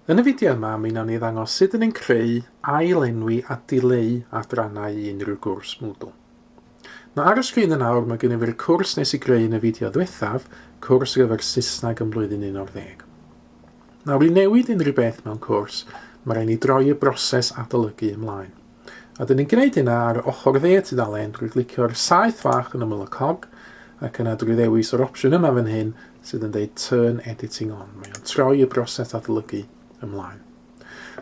Yn y fideo yma, mi wnawn ni ddangos sut yn ein creu, ail-enwi a dileu adrannau i unrhyw gwrs Moodle. Mae ar y sgrin yn awr, mae gennym ni'r cwrs nes i greu yn y fideo ddiwethaf, cwrs ar gyfer Saesneg yn blwyddyn 11. Nawr, i newid unrhyw beth mewn cwrs, mae rhaid ni droi y broses adolygu ymlaen. A dyn ni'n gwneud hynna ar ochr dde y tudalen drwy glicio'r saeth fach yn ymyl y cog ac yna drwy ddewis yr opsiwn yma fan hyn sydd yn deud Turn Editing On. Mae o'n troi y broses adolygu ymlaen.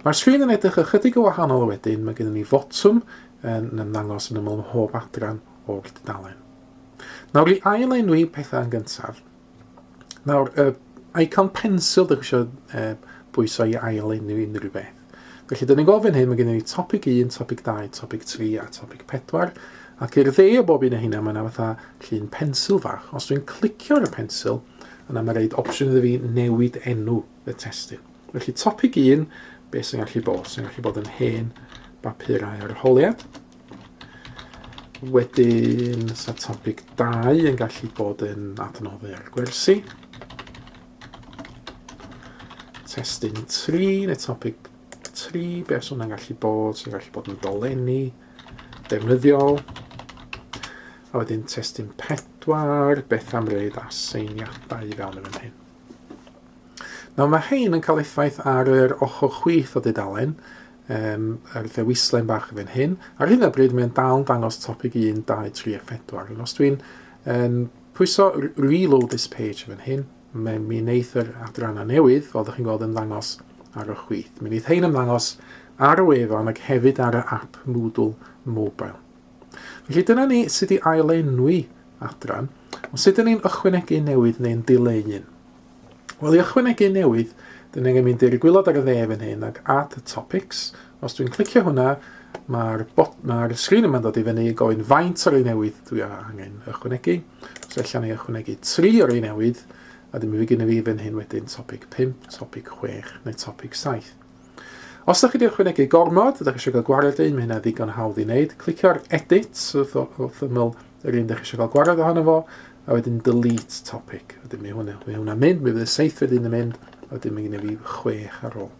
Mae'r sgrin yn edrych ychydig o wahanol wedyn, mae gennym ni fotwm yn ymddangos yn ymyl mhob adran o'r dudalen. Nawr i ail-enwi pethau yn gyntaf, Nawr, uh, icon pensil, dych eisiau uh, bwyso i ail enw unrhyw beth. Felly, dyn ni'n gofyn hyn, mae gennym ni topic 1, topic 2, topic 3 a topic 4. Ac i'r dde o bob un o hynna, mae yna fatha llun pensil fach. Os dwi'n clicio ar y pensil, yna mae rhaid opsiwn iddo fi newid enw y testyn. Felly, topic 1, beth sy'n gallu bod? Sy'n gallu bod yn hen bapurau arholiad. Wedyn, sa topic 2 yn gallu bod yn adnoddau ar gwersi. Testyn 3, neu topic 3, be os hwnna'n gallu bod, sy'n gallu bod yn dolenni, defnyddiol. A wedyn testyn 4, beth am reid aseiniadau i fewn yn hyn. Nawr mae hein yn cael effaith ar yr ochr chwith o dudalen, Yym, a ryw ddewislen bach fan hyn. Ar hyn o bryd mae'n dal yn dangos topic 1, 2, 3 a 4. Ond os dwi'n um, pwyso reload this page fan hyn, mae mi wneud yr adrannau newydd, fel ydych chi'n gweld, ymddangos ar y chwith. Mi wneud hein ymddangos ar y wefan ac hefyd ar y app Moodle Mobile. Felly dyna ni sut i ailenwi adran, ond sut ydyn ni'n ychwanegu newydd neu'n dileu un. Wel, i ychwanegu newydd, dyn angen mynd i'r gwylod ar y dde fan hyn ac Add to Topics. Os dwi'n clicio hwnna, mae'r ma sgrin yma'n dod i fyny gofyn faint o'r ei newydd dwi angen ychwanegu. So allan ei ychwanegu tri o'r ei newydd, a dyma fi gynnu fi fan hyn wedyn topic 5, topic 6 neu topic 7. Os ydych chi wedi ychwanegu gormod, ydych chi eisiau cael gwared un, mae hynna ddigon hawdd i wneud. Clicio ar Edit wrth, wrth ymyl yr un ydych chi eisiau cael gwared ohono fo, a wedyn Delete Topic. Wedyn mae hwnna, mae hwnna mynd, mae fydd y seithfed un yn mynd, a wedyn mae gen i fi chwech ar ôl.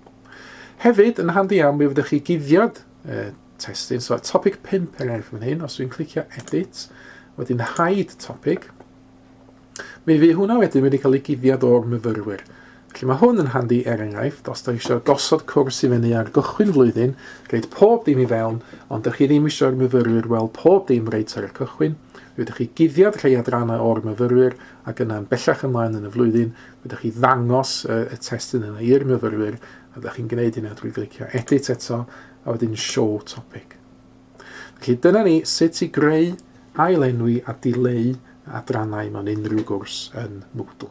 Hefyd, yn handi iawn, mi fyddwch chi guddiad e, testyn, so topic 5 er enghraifft fan hyn, os dwi'n clicio edit, wedyn hide topic, Mi fydd hwnna wedyn wedi cael ei guddiad o'r myfyrwyr. Felly mae hwn yn handi er enghraifft, os da eisiau gosod cwrs i fyny ar gychwyn flwyddyn, rhaid pob dim i fewn, ond da chi ddim eisiau'r myfyrwyr weld pob dim reit ar y cychwyn, mi ydych chi guddiad rhai adrannau o'r myfyrwyr ac yna'n bellach ymlaen yn y flwyddyn, mi ydych chi ddangos y, y testyn yna i'r myfyrwyr, a da chi'n gwneud hynna drwy glicio edit eto, a wedyn show topic. Felly dyna ni sut i greu, ailenwi a dileu adrannau mewn unrhyw gwrs yn Moodle.